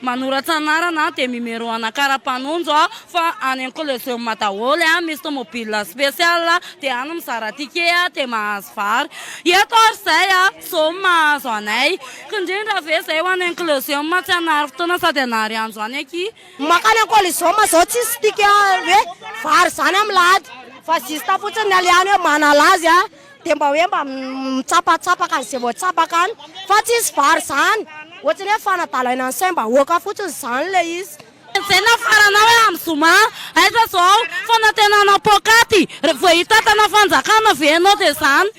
Manoratra anarana de mimero ana kara panonjo a fa any an coliseum daholy a misy tomobile special de any mizara ticket a de mahazo vary eto ary zay a zao no mahazo anay kindrindra ve zay ho any an coliseum tsy hanary fotoana sady hanary andro any akia Makany an coliseum zao tsisy ticket hoe vary zany am lahady fa juste fotsiny ny alehany hoe manala azy a. dia mba hoe mba mitsapatsapaka an'izay voatsapaka any fa tsy hisy vary izany, ohatran'ny hoe fanadalaina ny saim-bahoaka fotsiny izany ilay izy. Enjehina ny faranao hoe amin'ny zoma aiza izao fanantenana poakaty rehefa vao hitantana fanjakana ve ianao dia izany?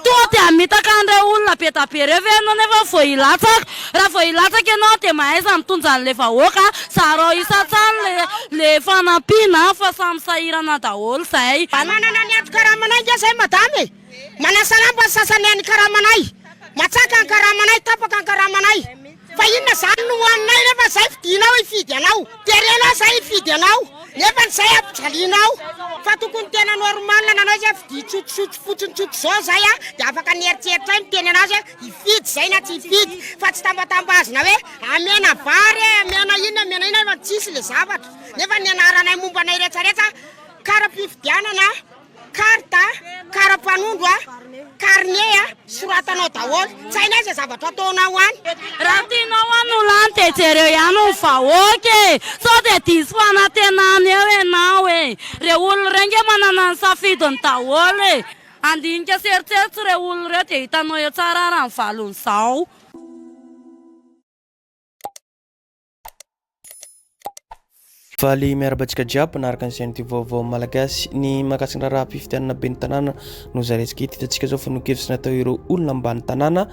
Tonga dia hamitaka an'ireo olona be dia be ireo ve ianao nefa vao hilatsaka Raha vao hilatsaka ianao dia mahaiza mitondra an'ilay vahoaka, zarao isan-tsany le le fanampiana fa samy sahirana daholo zay. Mba manana ny ato karamanay nge zay madame e! Manasalamba ny sasany any karamanay, matsaka ny karamanay, tapaka ny karamanay, fa inona zany no hoaninay refa zay fidinao hifidy anao, de re anao zay hifidy anao nefa ny zay ampijalianao, fa tokony tena normal nanao izy a, fidia tsotsotso fotsiny tsotra zao zay a, de afaka ny eritreritray miteny anazy a. Hifidy izay na tsy hifidy fa tsy tambatambazina hoe amena vary e, amena inona amena inona fa tsisy ilay zavatra. Nefa ny anaranay momba anay rehetrarehetra karam-pifidianana, carte, karam-panondro, carnet soratanao daholo. Tsy hainay izay zavatra ataonao any. Raha tianao hanolo any dia jereo ihany ny vahoaka e! Sao dia diso fanantenana eo ianao e! Ireo olona ireo ange manana ny safidiny daholo e! Handinika sy eritreritro ireo olona ireo dia hitanao eo tsara ary amin'ny valon'izao. Faly miarahaba antsika jiaby manaraka ny chaîne vaovao malagasy ny mahakasika ny raharaha fifidianana ben'ny tanàna no zarentsika eto hitantsika zao fanon-kevitra natao ireo olona ambany tanàna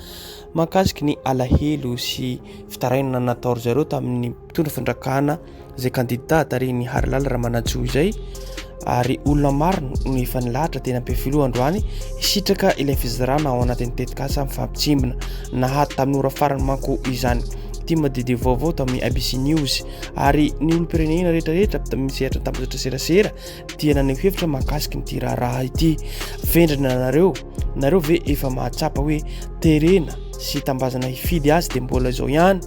mahakasika ny alahelo sy fitarainana natao ry zareo tamin'ny Mitondra fandrakana izay kandidà tarihin'ny Harilaly Ramanantsoa izay ary olona maro no efa nilahatra teny Ampefiloha androany hisitraka ilay fizarana ao anatin'ny tetikasa mifampitsimbina. Nahady tamin'ny ora farany manko izany ity madidi vaovao tamin'ny ABC News ary ny olom-pirenena rehetrarehetra avy tamin'ny sehatra an-tambajotra serasera dia naneho hevitra mahakasika ity raharaha ity. Vendrana anareo, nareo ve efa mahatsapa hoe terena sy tambazana hifidy azy dia mbola izao ihany?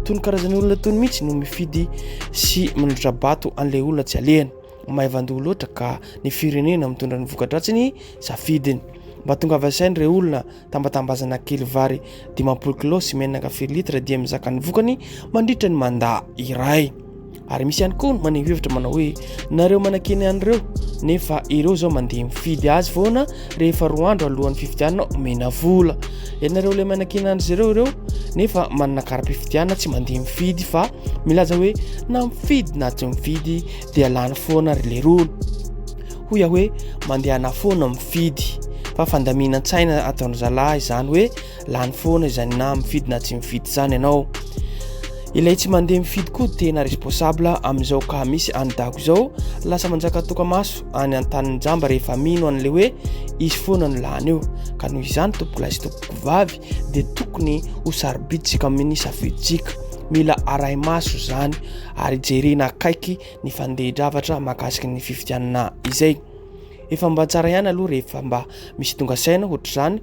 Toy ny karazan'ny olona tony mihitsy no mifidy sy manondrabato an'ilay olona tsy alehany. Maivan-doha loatra ka ny firenena mitondra ny voka-dratsy ny safidiny. Mba tonga avy asainy ireo olona tambatambazana kely vary dimampolo kilao sy menaka firy litra dia mizaka ny vokany mandritra ny mandà iray. ary misy ihany koa maneho hevitra manao hoe nareo manakeny an'ireo nefa ireo zao mandeha mifidy azy foana rehefa roa andro alohan'ny fifidianana omena vola ianareo ilay manakeny an'izy ireo ireo nefa manana kara-pifidianana tsy mandeha mifidy fa milaza hoe na mifidy na tsy mifidy dia lany foana ry leroa hoy aho hoe mandehana foana mifidy fa fandaminan-tsaina ataon'izalahy izany hoe lany foana izany na mifidy na tsy mifidy izany ianao ilay tsy mandeha mifidy koa tena responsable amin'izao ka misy any dago izao lasa manjaka toka maso any an-tanin'ny jamba rehefa mino an'ilay hoe izy foana no lany io ka noho izany tompokolay sy tompoko vavy dia tokony ho sarobiditsika amin'ny safiditsika mila aray maso izany ary jerena akaiky ny fandeha-dravatra makasika ny fifidianana izay efa mba tsara ihany aloha rehefa mba misy tonga saina hoatr'izany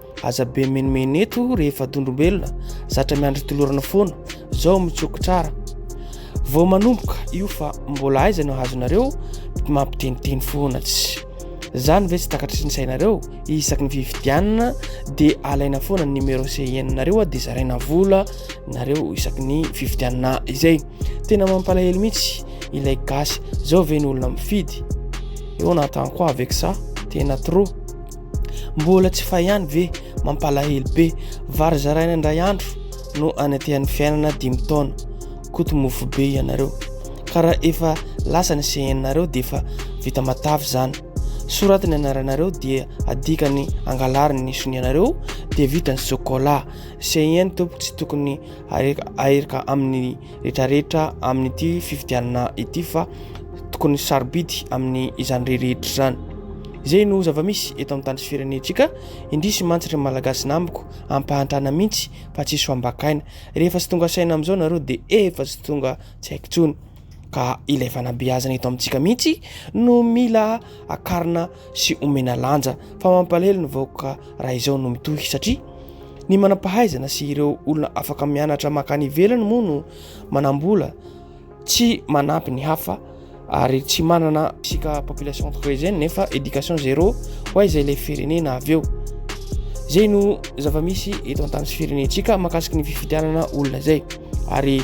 Aza be menomeno eto rehefa dondrombelona, zatra miandry tolorana foana, zao mitsokotrara. Vao manomboka io fa mbola aiza no hazonareo mampiteniteny foana tsy. Zany ve tsy takatry ny sainareo, isaky ny fifidianana dia alaina foana ny numéro CIN nareo dia zaraina vola nareo isaky ny fifidianana izay. Tena mampalahelo mihitsy ilay gasy, zao ve ny olona mifidy? Eo na tanko avec ça, tena trop. Mbola tsy fay ihany ve? Mampalahelo be. Vary zaraina indray andro no anetehan'ny fiainana dimy taona. Koto mofo be ianareo. Ka raha efa lasa ny CN-nareo dia efa vita matavy izany. Soraty ny anaranareo dia adika ny angalariny ny sonianareo dia vita ny sokolà. CN tompoko tsy tokony aherika amin'ny rehetrarehetra amin'ity fifidianana ity fa tokony sarobidy amin'ny izany reherehetra izany izay no zava-misy eto amin'ny tany sy firenentsika indrisy mantsy ry malagasy namiko ampahantrana mihitsy fa tsy soambakaina rehefa tsy tonga saina amin'izao nareo dia efa tsy tonga tsy haiko tsony ka ilay fanabeazana eto amintsika mihitsy no mila akarina sy omena lanja fa mampalahelo ny vahoaka raha izao no mitohy satria ny manam-pahaizana sy ireo olona afaka mianatra makany ivelany moa no manambola tsy manampy ny hafa ary tsy manana isika population tokoa izay nefa éducation zéro ho a izay ilay firenena avy eo zay no zava-misy eto an-tany sy firenentsika makasiky ny fifidianana olona zay ary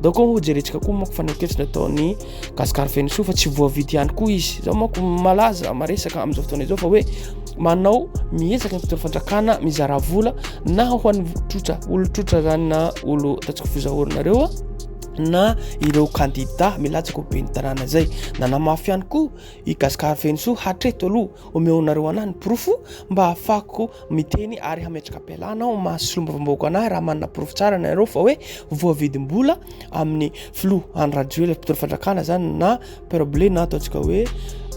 daoko ho jerentsika koa moa fa ny ankevitra nataon'ny Gasikara Fenosoa fa tsy voavidy ihany koa izy. Izao manko malaza maresaka amin'izao fotoana izao fa hoe manao miezaka ny mpitondra fandrakana mizara vola na ho an'ny trotra olotrotra zany na olo tatsiko fizahorinareo na ireo kandida milatsaka ho ben'ny tanàna izay nanamafy ihany koa i Gasikara Fenosoa hatreto aloha omeonareo anahy ny porofo mba hafako miteny ary hametraka-pialana ao maha solombavambahoaka anahy raha manana porofo tsara nareo fa hoe voavidim-bola amin'ny filoha any rajoela mpitoro fandrakana zany na perble na ataontsika hoe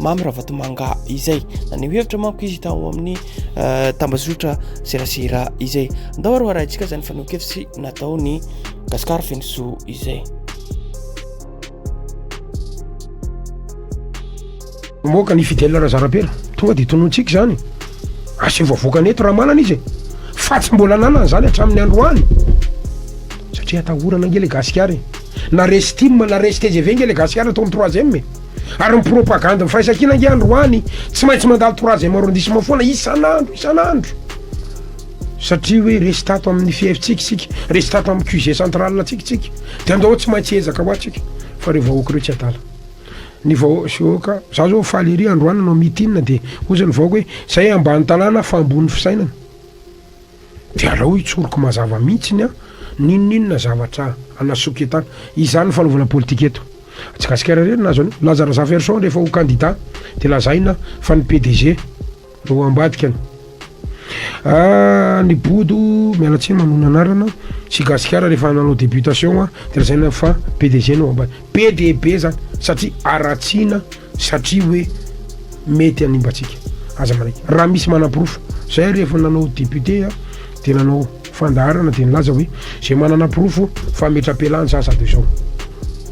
mamy ravatomanga izay na ny hevitra manko izy tao amin'ny euh, tambazotra serasera izay ndao aroa arahintsika zany fanokevitsy natao ny gasikara fenosoa izay Moka ny Fidèle Razarapera tonga de tonontsika zany aseho vavoakany eto raha manana izy fa tsy mbola nanana zany hatramin'ny androany satria atahorana nge le gasikara e na resy tim na resy tgv nge le gasikara atao am troisième e ary ny propagande ny firaisankina nge androany tsy maintsy mandalo troisième arrondissement foana isan'andro isan'andro Satria hoe resy tato amin'ny fiefitsika isika, resy tato amin'ny QG central antsika isika, dia andao tsy maintsy hiezaka hoa tsika fa ireo vahoaka ireo tsy adala. Ny vahoaka, za zao faly ery androany nanao mitin dia ozy ny vahoaka hoe zay ambany tanàna fa ambony fisainana. Dia alao hitsoriko mazava mihitsiny an, n'inon'inona zavatra anasoketana. Izany ny fanaovana politika eto. Gasikara irery nahazo an'io. Laza Razafiarison rehefa ho candidat dia lazaina fa ny PDG. Ro ambadika an. Ah ny bodo miala tsiny manona anarana tsy gasikara rehefa nanao débutation an de lazaina fa PDG no ambadika be dia be zany satria aratsiana satria hoe mety animbatsika aza manaiky raha misy manaporofo zay ary efa nanao député an de nanao fandaharana de nilaza hoe zay manana porofo fa metra-pialany za zato izao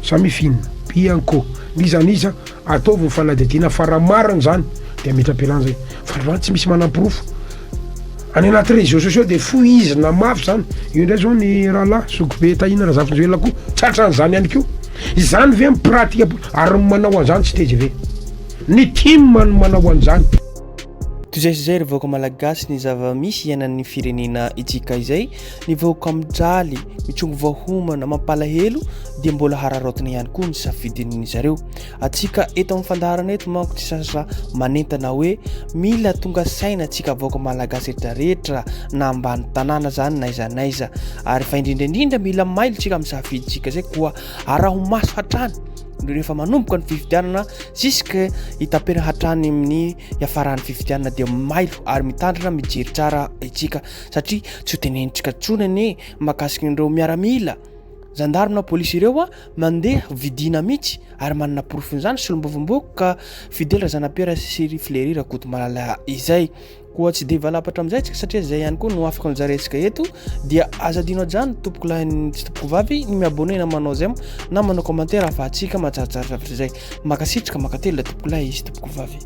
samia finina bianco n'iza n'iza Ataovy ny fanadihadiana fa raha marina izany dia ametra-pialana izay fa raha tsy misy manam-porofo any anaty réseaux sociaux dia fohizina mafy izany, io indray izao ny rahalahy zokibe Tahina Razafinjoelina koa tratran'izany ihany koa, izany ve ny pratika ary ny manao an'izany tsy tgv ny tim no manao an'izany. Toy izay sy izay ry vahoaka malagasy ny zava-misy iainan'ny firenena itsika izay Ny vahoaka mijaly, mitrongy voahomana, mampalahelo dia mbola hararaotina ihany koa ny safidin'ny zareo. Antsika eto amin'ny fandaharana eto manko tsy sasa manentana hoe mila tonga saina antsika vahoaka malagasy rehetra rehetra na ambany tanàna zany naiza naiza ary fa indrindra indrindra mila mailo tsika amin'ny safidintsika zay koa araho maso hatrany no rehefa manomboka ny fifidianana ziska hitapena hatrany amin'ny hiafaran'ny fifidianana dia mailo ary mitandrina mijery tsara itsika satria tsy ho tenenintsika intsony anie mahakasika an'ireo miaramila, zandary na polisy ireo a, mandeha vidiana mihitsy ary manana porofon'izany solombavambahoaka Fidèle Razanapiera sy ry Flery Rakotomalala izay. Koa tsy dia valapatra amin'izay tsika satria izay ihany koa no afaka nojarintsika eto dia aza adino ajano tompoko lahy sy tompoko vavy ny mi-abonner na manao j'aime na manao commentaire ahafahantsika mahatsaratsara zavatra izay. Mankasitraka, mankatelina tompoko lahy sy tompoko vavy.